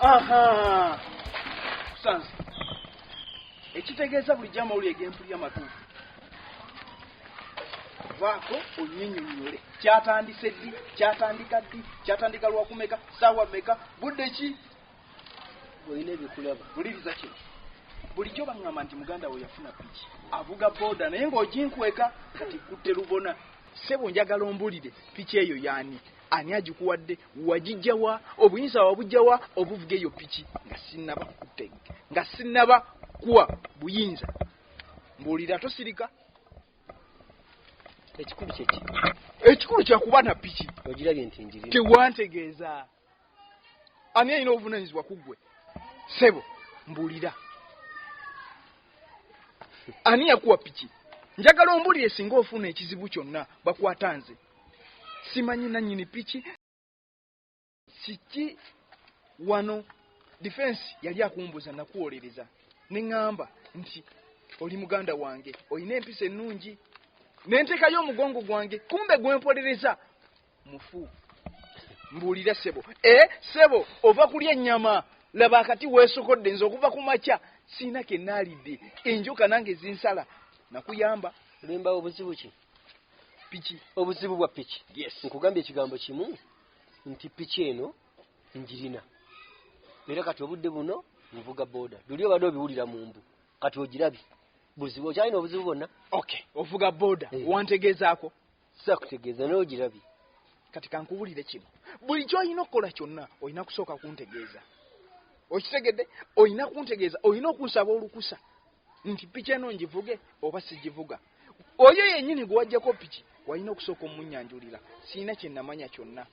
aha sansi ekitegeeza buli jama oli egempuli amatuufu vaako onyinyonyole kyatandise ddi kyatandika ddi kyatandika lwakumeka saawa meka budde ki olina ebikulaba buliriza kino bulijjo baŋŋamba nti muganda we yafuna piki avuga booda naye ng'oginkweka kati kutte lubona sebo njagala ombulire piki eyo yaani Ani agikuwadde? Wagijja wa? Obuyinza wabujja wa obuvuga eyo piki nga sinnaba kuteg nga sinnaba kuwa buyinza? Mbuulira tosirika. Ekikulu kyeki? Ekikulu kya kuba na piki. Ogirabye nti njiri. Tewantegeeza. Ani alina obuvunaanyizibwa ku ggwe? Ssebo, mbuulira. Ani yakuwa piki? Njagala ombulire singa ofuna ekizibu kyonna bakwata nze. simanyi nanyini piki kiki wano defense yali akumbuza nakuwolereza neŋamba nti oli muganda wange olina empisa ennungi nentekayo omugongo gwange kumbe gwempolereza mufu mbuulira sebo e eh, sebo ova kulya ennyama laba akati weesokodde nze okuva ku makya siina kenaalidde enjoka nange zinsala nakuyamba limba obuzibu ki piki obuzibu bwa piki yes nkugambye ekigambo kimu nti piki eno njirina era kati obudde buno nvuga boda luli obadde obiwulira mu mbu kati ogirabye buzibu okyalina obuzibu bwonna okay ovuga boda eh. wantegeezaako sakutegeeza naye ogirabye kati kankubulire kino buli kyolina okukola kyonna olina kusooka kuntegeeza okitegedde olina kuntegeeza olina okunsaba olukusa nti piki eno ngivuge oba sigivuga oyo yennyini gwe wajjako piki walina okusooka omunyanjulira sirina kye namanya kyonna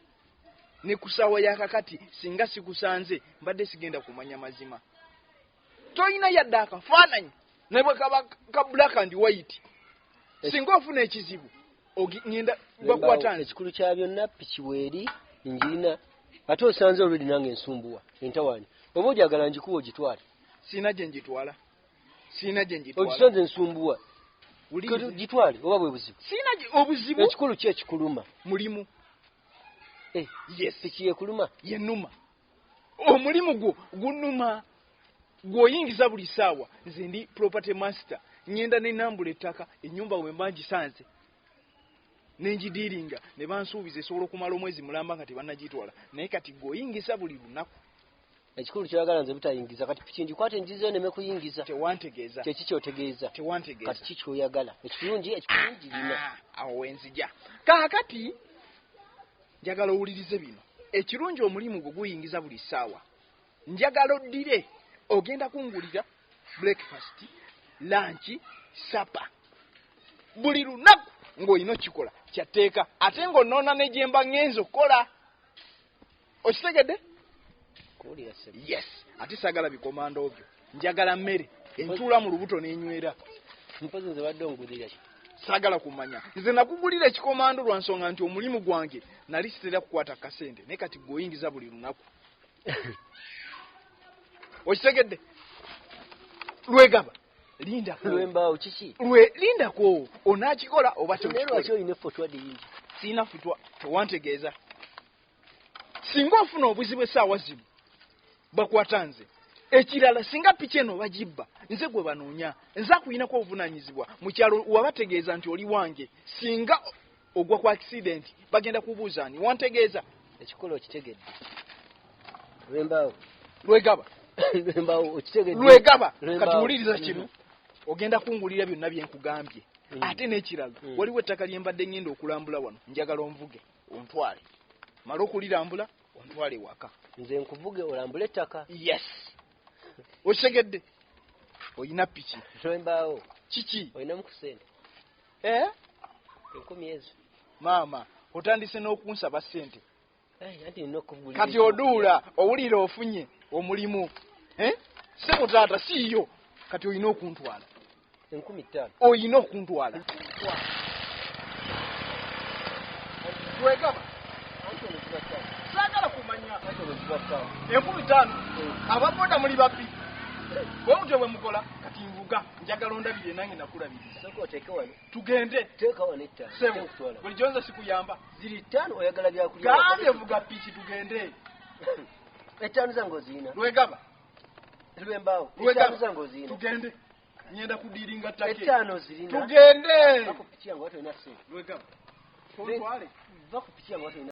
ne ku ssaawa ya kakati singa sikusanze mbadde sigenda kumanya mazima tolina yadde akafaananyi ne bwe kaba ka black and white singa ofuna ekizibu ngenda bakwata ekikulu kya byonna piki weeri njirina ate osanze olwedi nange ensumbuwa entawaani oba ojagala njikuwa ogitwale sirina gye njitwala sirina gye ngitwala ogisula nze nsumbuwa gitwale oba bwe buzibu sirina obuzibu ekikulu ki ekikuluma mulimu eh, yes piki yekuluma yenuma omulimu gwo gunuma gw'oyingiza buli saawa nze ndi property master ngenda nenambula ettaka enyumba wemba ngisanze nengidiiringa ne bansuubiza esobola okumala omwezi mulamba nga tebannagitwala naye kati gw'oyingiza buli lunaku ekikulu kyoyagala nze butayingiza kati piki ngikwate njizeyo neme kuyingiza tewantegeeza kyeki kyotegeeza tewantegeeza kati ki kyoyagala ekirungi ekirungi lina ah, awo wenzija kaakati njagala owulirize bino ekirungi omulimu gwo guyingiza buli ssaawa njagala oddire ogenda kungulira breakfast lanki sapa buli lunaku ng'olina okikola kyatteeka ate ng'onoona ne gyemba ŋŋenza okukola okitegedde yes ate sagala bikomanda obyo njagala mmere entuula mu lubuto n'enywera mpozi nze badde ongulira ki sagala kumanya nze nakugulira ekikomando lwa nsonga nti omulimu gwange nali sitera kukwata kasente naye kati gweoyingiza buli lunaku okitegedde lwegaba linda lwembaawo kiki lwe linda kwo onakikola oba tewaki olina efotwa dingi sirina futwa tewantegeeza singa ofuna obuzibu esaawa zino bakwata nze ekirala singa piki eno bagibba nze gwe banoonya nze akuyinako obuvunanyizibwa mukyalo wabategeeza nti oli wange singa Ogwa ku accident bagenda kubuuza ani wantegeeza ekikolo okitegedde lwembaawo lwegaba lwembaawo okitegedde lwegaba kati wuliriza kino mm. ogenda kungulira byonna bye nkugambye mm. ate n'ekirala mm. waliwo ettaka lye mbadde ngenda okulambula wano njagala onvuge ontwale mala okulirambula ontwale waka nze nkuvuge olambule ettaka yes okitegedde olina piki lwembaawo kiki olinamu ku sente eh? enkumi ezo maama otandise n'okunsaba sente kati oduula owulira ofunye omulimu eh? sebo taata siiyo kati olina okuntwala enkumi ttaano olina okuntwala wegaba sagala kumanya enkumi ttaano ababoda muli babbi bwe mutyo bwe mukola kati nvuga njagala ondabirire nange nakulabirira tugende bulijjo nze sikuyamba gambye vuga piki tugende ettaano zange oziina lwegaba lwembaawo ettaano zange oziina tugende nyenda kudiringa take ettaano zirina tugende lwegaba tontwale va ku piki yange watolina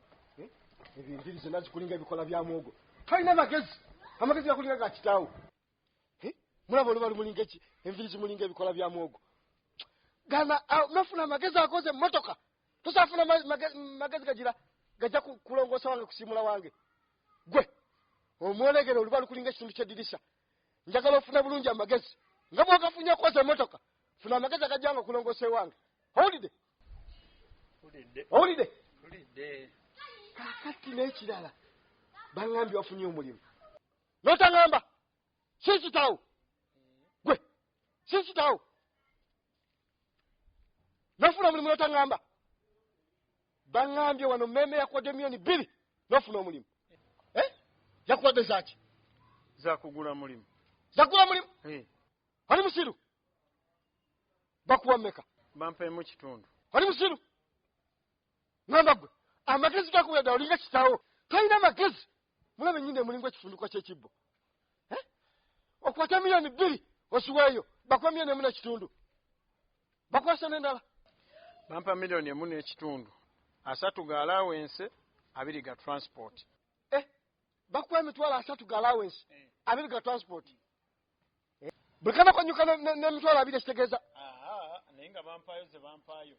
Eh? ebyo enjiri zonna zikulinga ebikola bya mwogo talina magezi amagezi gakulinga ga kitaawo eh? mulaba oluba lumulinga eki enviri zimulinga ebikola bya mwogo gana nofuna amagezi akoze emmotoka tosafuna magezi gagira gajja kulongoosa wange kusiimula wange gwe omwolegere oluba lukulinga ekitundu kyeddirisa njagala ofuna bulungi amagezi nga bwogafunye okoza emmotoka funa amagezi agajja nga okulongoosa ewange holiday owulidde kakati n'ekirala baŋambye wafunye omulimu notaŋamba si kitawo gwe si kitawo nofuna omulimu notaŋamba baŋambye wano meme yakuwadde miyoni bbiri nofuna omulimu eh? yakuwadde zaki zakugula mulimu zakugula mulimu ali musiru bakuwa meka bampemu kitundu oli musiru ngamba gwe amagezi gakubeda olinga kitawo tolina magezi mulabe nyini emulinga ekifunduka kyekibbo eh? okwata miliyoni bbiri osiweeyo bakuwa miliyoni emu nekitundu bakwasa nendala bampa miliyoni emu nekitundu asatu ga alawense abiri ga transport eh? bakuwa emitwalo asatu ga alawense eh. abiri ga transport buli kanakonyuka nemitwalo abiri ekitegeeza naye nga bampaayo ze bampaayo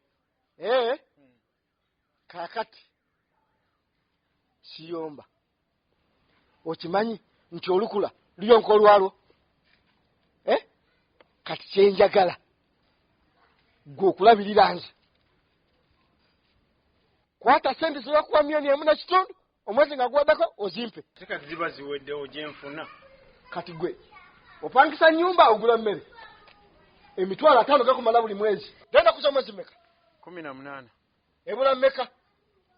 ee eh? hmm. kakati siyomba okimanyi nti olukula luyonka olwalwo e kati kyenjagala gwe okulabirira nze kwata sente zebakuwa myoni emu nakitundu omwezi nga guweddeko ozimpe kati ziba ziweddewo gyenfuna kati gwe opangisa nyumba ogula mmere emitwalo ataano gakumala buli mwezi genda kuza omwezi meka kumi na munaana ebula meka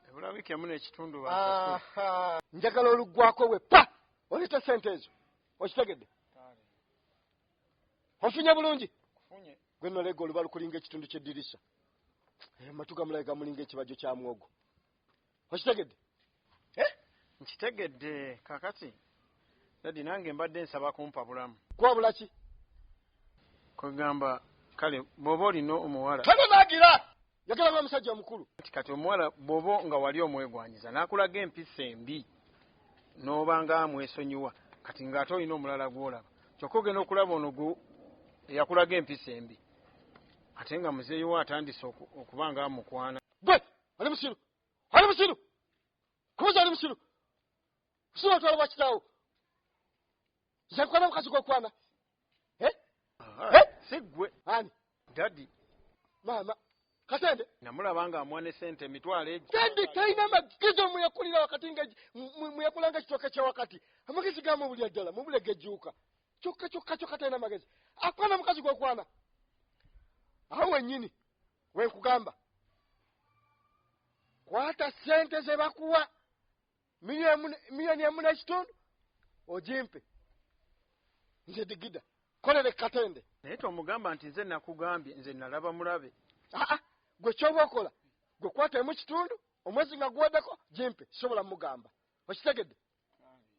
ebula wiiki emu nekitundu njagala oluggwako we pa oleeta sente ezo okitegedde ofunye bulungi gwenolega olubalukulinga ekitundu kyeddirisa amatu eh, gamulaga gamulinga ekibajjo kya mwogo okitegedde eh? nkitegedde kakati dadi nange mbadde nsaba kumpa bulamu kwabula ki kwegamba kale bwoba olina omuwala kale nagira yagala ba musajja mukulu kati kati omuwala bwoba nga wali omwegwanyiza nakulaga empisa embi noba nga amwesonyiwa kati nga ate olina omulala gwolaba kyokka ogenda okulaba ono gu eyakulaga empisa embi ate nga muzeeyiwo atandise okuba nga amukwana gwe oli musiru oli musiru kubuza oli musiru kusiba otwala bwa kitaawo zakwana mukazi gwokwana eh? eh? sigwe ani dadi maama kasente namulaba nga amwane sente emitwalo egi sente talina amagezi omuyakulira wakati nga muyakulanga ekitooke kyawakati amagezi gamu obulya ddala mubule gejuuka kyokka kyokka kyokka talina amagezi akwana mukazi gwokwana awo wenyini wenkugamba kwata sente zebakuwa miliyoni emu nekitundu ojimpe nze digida kolere katende naye tomugamba nti nze nakugambye nze nalaba mulabe aa gwe kyoba okola gwe kwata emu kitundu omwezi nga guwedeko jimpe sobola mugamba okitegedde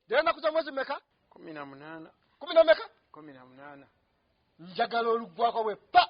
dera nakuza mwezi meka kumi na munana kumi na meka kumi na munana njagala olugwako bwe pa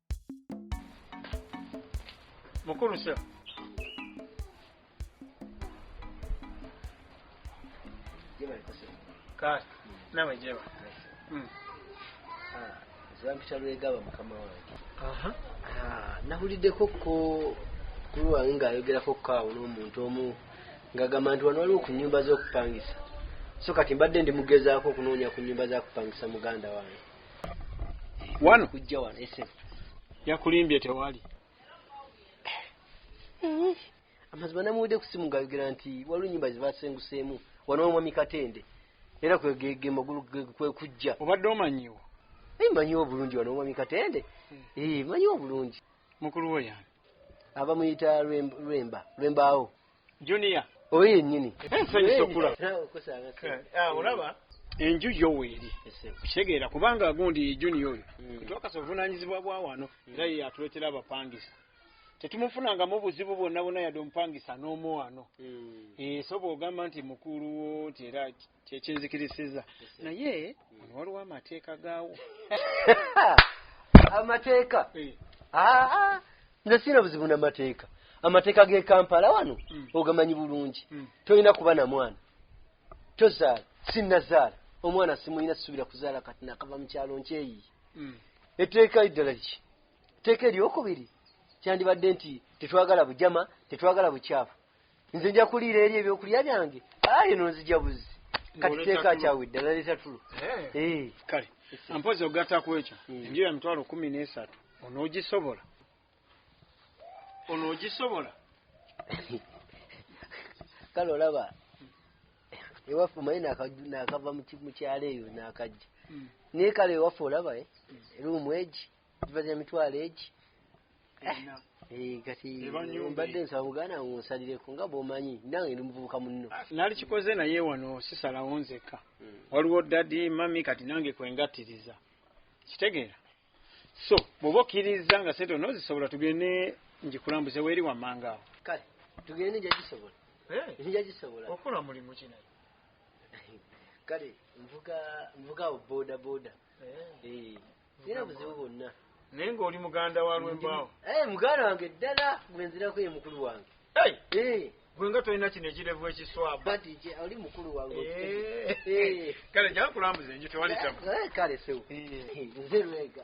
mukulu sir kale nawe jeba Mm. zampita lwegaba mukama wange Aha. Ah, nabuliddeko ko kulu wange ng'ayogerako ko awo n'omuntu omu ng'agamba nti wano waliwo ku nnyumba z'okupangisa so kati mbadde ndimugezaako okunoonya ku nnyumba za kupangisa muganda wange wano kujja wano esebo yakulimbye tewali eh, amazima namuwede kusimu ngayogera nti waliwo enyumba zibasenguseemu wano omwami katende era kwege magulu kwekujja obadde omanyiwo naye manyiwo obulungi wano omwami katende hmm. eh, manyiwo obulungi mukulu wo yani abamuyita lwemba lwembaawo junior oyo yennyini ensanyusa okula olaba enju yo weeri kitegeera kubanga gundi junior oyo hmm. twakasa obuvunanyizibwa bwa wano hmm. era ye yatuleetera abapangisa tetumufunangamu obuzibu bwonna bwonna yadde omupangisa n'omu wano hmm. eh, so bwogamba nti mukulu wo nti era kyekinzikirisiza naye ono waliwo amateeka gaawo amateeka eh. ah, ah. nze siina buzibu namateeka amateeka g'e kampala wano hmm. ogamanyi bulungi hmm. tolina kuba na mwana tozaala sinnazaala omwana simulina sisuubira kuzaala kati nakava mu kyalo nkyeyiye hmm. etteeka eddala ki etteeka eryokubiri kyandibadde nti tetwagala bujama tetwagala bukyafu nze nja kuliira eri ebyokulya byange aye nonzija buzi kati teeka kyawe ddala leeta tulo eh. eh. kale mpozi ogatta ku ekyo hmm. enju ya mitwalo kumi n'esatu onoogisobola onoogisobola kale olaba ewaffe omanyi nakava mukyalo eyo nakajja hmm. naye kale ewaffe olaba eh, hmm. eruumu egi Bazi emitwalo egi eh, kati mbadde nsaba muganda wange onsalireko nga bwomanyi nange ndi muvubuka munno ah, nalikikoze naye wano sisalawo nzekka hmm. waliwo dadi mami kati nange kwengattiriza kitegeera so bwoba okkiriza nga sente onozisobola tugende njikulambuze weeri wammanga awo kale tugende njagisobola eh? njagisobola okola mulimu kina kale nvuga nvuga awo boda boda eh. sirina buzibu bwonna naye ng'oli muganda wa lwembaawo eh, muganda wange ddala gwe nzirako ye mukulu wange eh. gwe nga tolina kino ekirevu ekiswabaoli mukulu wange eh. kale gyakulambuza enju tewali tama kale sewo nze lwega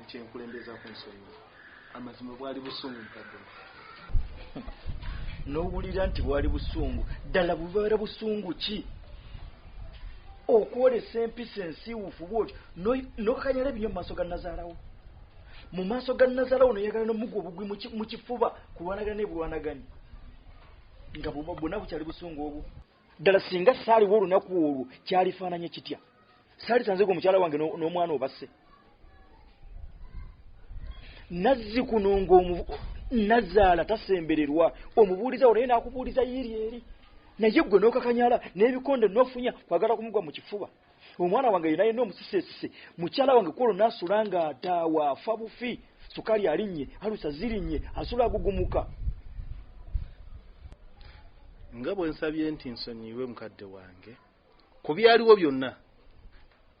Nkye nkulembeza ku nsonga. Amazima bwali busungu mukadde. N'owulira nti bwali busungu, ddala bubeera busungu ki? okwolesa empisa ensiiwufu bwoti nokanyala ebinyo mumaaso ga nazaalawo mu maaso ga nazaalawo noyagala nomugwa obugwi mu kifuba kulwanagana nebulwanagani nga bwona bukyali busungu obwo ddala singa saaliwo olunaku olwo kyalifaananye kitya saali tanzega omukyala wange n'omwana obasse nazzi kuno ngaomu nazaala tasembererwa omubuuliza wo naye n'akubuuliza yiiri eri naye ggwe n'okakanyala n'ebikonde n'ofunya kwagala kumugwa mu kifuba omwana wange yena yena omusisesise mukyala wange kwolwo nasula nga ataawa afa bufi sukali alinnye alusa zirinnye asula agugumuka nga bwe nsabye nti nsonyiwe mukadde wange ku byaliwo byonna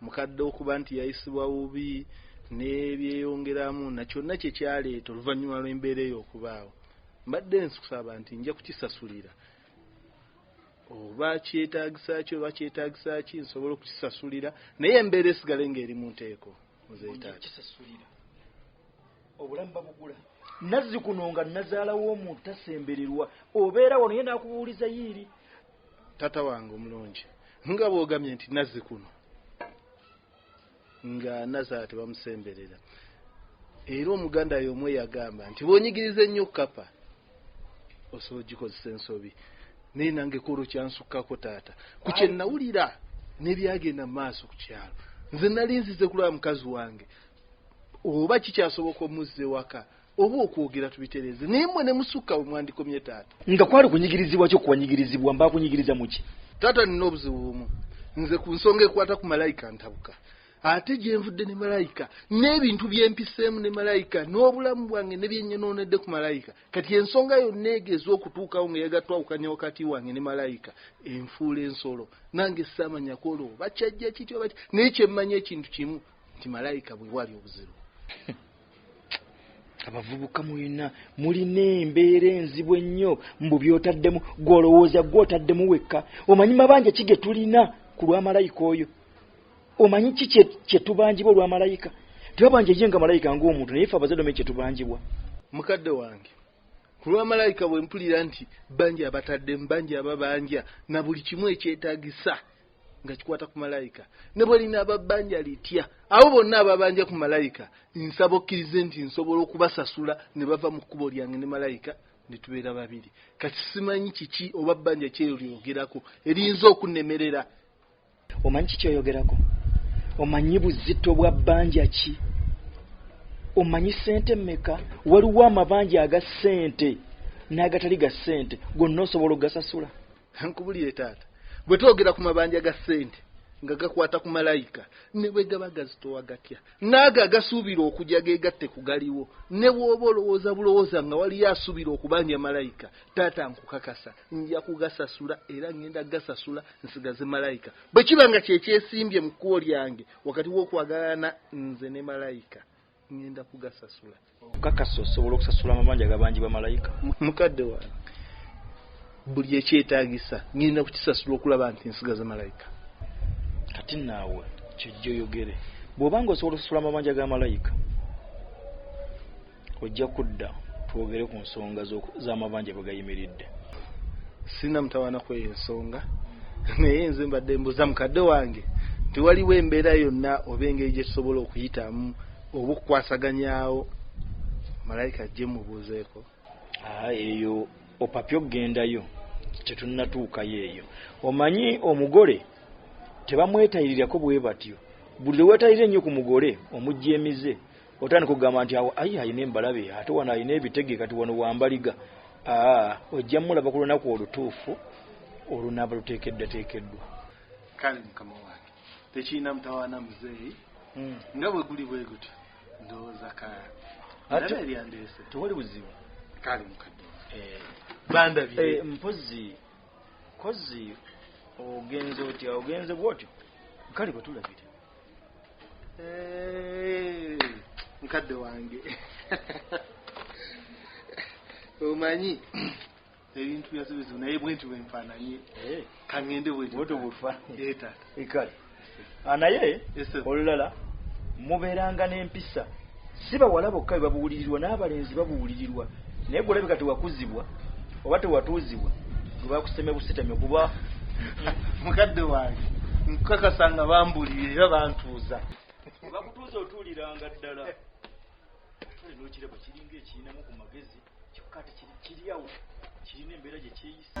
mukadde okuba nti yayisibwa bubi nebyeyongeramu na kyonna kye kyaleeta oluvannyuma lw'embeera eyo okubaawo mbadde nkusaba nti nja kukisasulira oba kyetagisa ki oba kyetagisa ki nsobola okukisasulira naye embeera esigale nga eri munteeko nzetakisasulira obulamu babugula nazzi kuno nga nazaalawo omuntu tasembererwa obeera wano ye nakubuuliza yiiri tata wange omulungi nga bwogamye nti nazzi kuno nga nazala tebamusemberera era omuganda yomu eyagamba nti bwonyigiriza ennyo kapa osobola ogikozesa ensobi naye nange kolo kyansukkako taata ku kyenawulira nebyagenda mu maaso ku kyalo nze nali nzize kulaba mukazi wange oba kikyasoboka omuzza ewaka oba okwogera tubitereeze naye mmwe ne musukka we mwandikomye taata nga kwali kunyigirizibwa kyo kuwanyigirizibwa mba kunyigiriza muki taata nina obuzibu bumu nze ku nsonga ekwata ku malayika ntabuka ate gyenvudde ne malayika n'ebintu byempiseemu ne malayika n'obulamu bwange ne byenyonoonedde ku malayika kati ensonga yonna egeeza okutuukawo nga yagatwawukanya wakati wange ne malayika enfuula ensolo nange saamanyako olwo bakyajja kityo bati naye kyemmanyi ekintu kimu nti malayika bwe wali obuzibu abavubuka mulina mulina embeera enzibu ennyo mbu byotaddemu gwolowooza gwotaddemu wekka omanyi mabanja ki ge tulina ku lwamalayika oyo omanyi ki kyetubanjibwa olwamalayika tebabanja ye nga malayika ngaomuntu naye fe abazadome kyetubanjibwa mukadde wange ku lwamalayika bwe mpulira nti banja abataddemu banja ababanja na buli kimu ekyetagisa nga kikwata ku malayika ne bwe linaaba bbanja litya abo bonna ababanja ku malayika nsaba okkirize nti nsobola okubasasula ne bava mu kkubo lyange ne malayika ne tubeera babiri kati simanyi kiki oba bbanja kyeyo lyogerako eriyinza okunnemerera omanyi kiki oyogerako omanyi buzito bwa bbanja ki omanyi ssente mmeka waliwo amabanja aga ssente n'agatali ga ssente gonna osobola okugasasula nkubulire taata bwe twogera ku mabanja ga ssente nga gakwata ku malayika ne bwe gaba gazitowa gatya naago agasuubira okujja ge gatte ku galiwo ne bw'oba olowooza bulowooza nga waliyo asuubira okubanja malayika taata nkukakasa nja kugasasula era ngenda gasasula nsigaze malayika bwe kiba nga kyekyesimbye mu kkubo lyange wakati w'okwagalana nze ne malayika ngenda kugasasula okakasa osobola okusasula amabanja gabanjibwa malayika mukadde wa buli ekyetagisa ngenda kukisasula okulaba nti nsigaza malayika kati naawe kyojja oyogere bwobanga osobola okusasula amabanja ga malayika ojja kudda twogere ku nsonga z'amabanja bwegayimiridde sina mutawana kweyo ensonga naye nze mbadde mbuza mukadde wange nti waliwo embeera yonna oba engeri gyetusobola okuyitamu oba okukwasaganyawo malayika ajje mubuuzeeko ah, eyo opapya okugendayo tetunatuukayo eyo omanyi omugole tebamwetayirirako bwe batyo buli lwe wetayirira ennyo ku mugole omuggyemize otandika okugamba nti awo ayi alina embalabe ate wano alina ebitege kati wano wambaliga aa ojja mulaba ku lunaku olutuufu olunaaba luteekeddateekeddwa kale mukama wange tekirina mutawaana muzeeyi hmm. nga bwe guli bwe gutyo ndowooza ka ate eryandeese tewali buzibu kale mukadde eh. bandabye eh, mpozi kozi ogenze otya ogenze bwotyo kale bwetulabire mukadde wange omanyi ebintu byasobezo naye bwenti bwenfananye eh. kangende bwetbufa eh, taata ah, naye olulala mubeeranga n'empisa Si bawala bokka be babuulirirwa, n'abalenzi babuulirirwa. Naye ggwe olabika tewakuzibwa oba tewatuuzibwa gwe bakusemye busitamye kuba mukadde wange nkukakasa nga bambuulirira era bantuuza. Bakutuuza otuuliranga ddala. Kale n'okiraba kiringa ekirinamu ku magezi kyokka ate kiri awo kirina embeera gye kyeyisa.